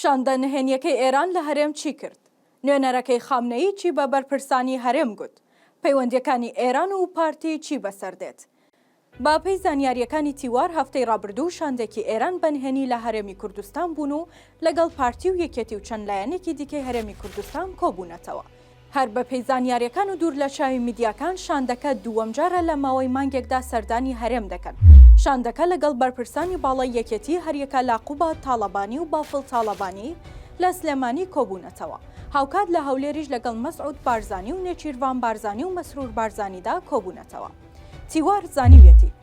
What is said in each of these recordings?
شاندە نهێنیەکەی ئێران لە هەرێم چی کرد؟ نوێنەرەکەی خامنەیی چی بە بەرپرسانی هەرێم گوت؟ پەیوەندیەکانی ئێران و پارتی چی بەسەر دێت؟ بە پێی زانیاریەکانی تیوار هەفتەی ڕابردوو شاندێکی ئێران بە نهێنی لە هەرێمی کوردستان بوون و لەگەڵ پارتی و یەکێتی و چەند لایەنێکی دیکەی هەرێمی کوردستان کۆبوونەتەوە. هەر بەپێی زانیارییەکان و دوور لە چاوی میدیاکان، شاندەکە دووەم جارە لە ماوەی مانگێکدا سەردانی هەرێم دەکەن. شاندەکە لەگەڵ بەرپرسانی باڵای یەکێتی هەریەکە لە قوباد تاڵەبانی و بافڵ تاڵەبانی لە سلێمانی کۆبوونەتەوە. هاوکات لە هەولێریش لەگەڵ مەسعود بارزانی و نێچیرڤان بارزانی و مەسرور بارزانیدا کۆبوونەتەوە. تیوار زانیویەتی.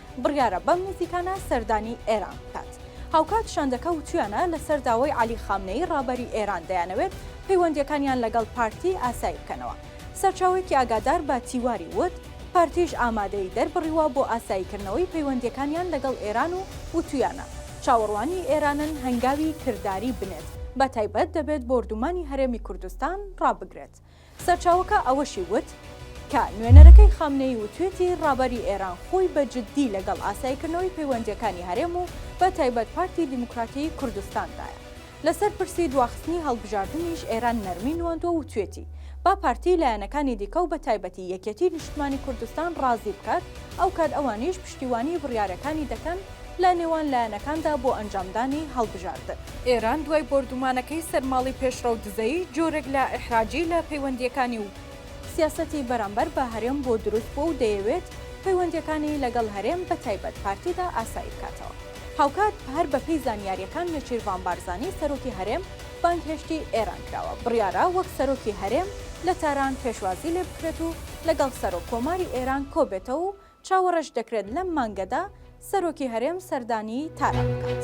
بڕیارە بەم نزیکانە سەردانی ئێران بکات. هاوکات شاندەکە وتویانە لەسەر داوای عەلی خامنەیی ڕابەری ئێران دەیانەوێت پەیوەندییەکانیان لەگەڵ پارتی ئاسایی بکەنەوە. سەرچاوەیەکی ئاگادار بە تیواری وت پارتیش ئامادەیی دەربڕیوە بۆ ئاساییکردنەوەی پەیوەندییەکانیان لەگەڵ ئێران و وتویانە چاوەڕوانی ئێرانن هەنگاوی کرداری بنێت بەتایبەت دەبێت بۆردومانی هەرێمی کوردستان ڕابگرێت. سەرچاوەکە ئەوەشی وت کە نوێنەرەکەی خامنەیی وتوێتی ڕابەری ئێران خۆی بە جددی لەگەڵ ئاسایکردنەوەی پەیوەندییەکانی هەرێم و بە تایبەت پارتی دیموکراتی کوردستان دایە. لەسەر پرسی دواخستنی هەڵبژاردنیش ئێران نەرمی نواندوە و توێتی با پارتی لایەنەکانی دیکە و بە تایبەتی یەکێتی نیشتمانی کوردستان ڕازی بکات ئەوکات ئەوانیش پشتیوانی بڕیارەکانی دەکەن لە نێوان لایەنەکاندا بۆ ئەنجامدانی هەڵبژاردن. ئێران دوای بۆردومانەکەی سەر ماڵی پێشڕەو دزەی جۆرێک لە ئیحراجی لە پەیوەندییەکانی و، سیاسەتی بەرامبەر بە هەرێم بۆ دروست بووە و دەیەوێت پەیوەندییەکانی لەگەڵ هەرێم بە تایبەت پارتیدا ئاسایی بکاتەوە. هاوکات هەر بە پێی زانیارییەکان نێچیرڤان بارزانی سەرۆکی هەرێم بانگهێشتی ئێران کراوە، بڕیارە وەک سەرۆکی هەرێم لە تاران پێشوازی لێ بکرێت و لەگەڵ سەرۆک کۆماری ئێران کۆ بێتەوە و چاوەڕێش دەکرێت لەم مانگەدا سەرۆکی هەرێم سەردانی تاران بکات.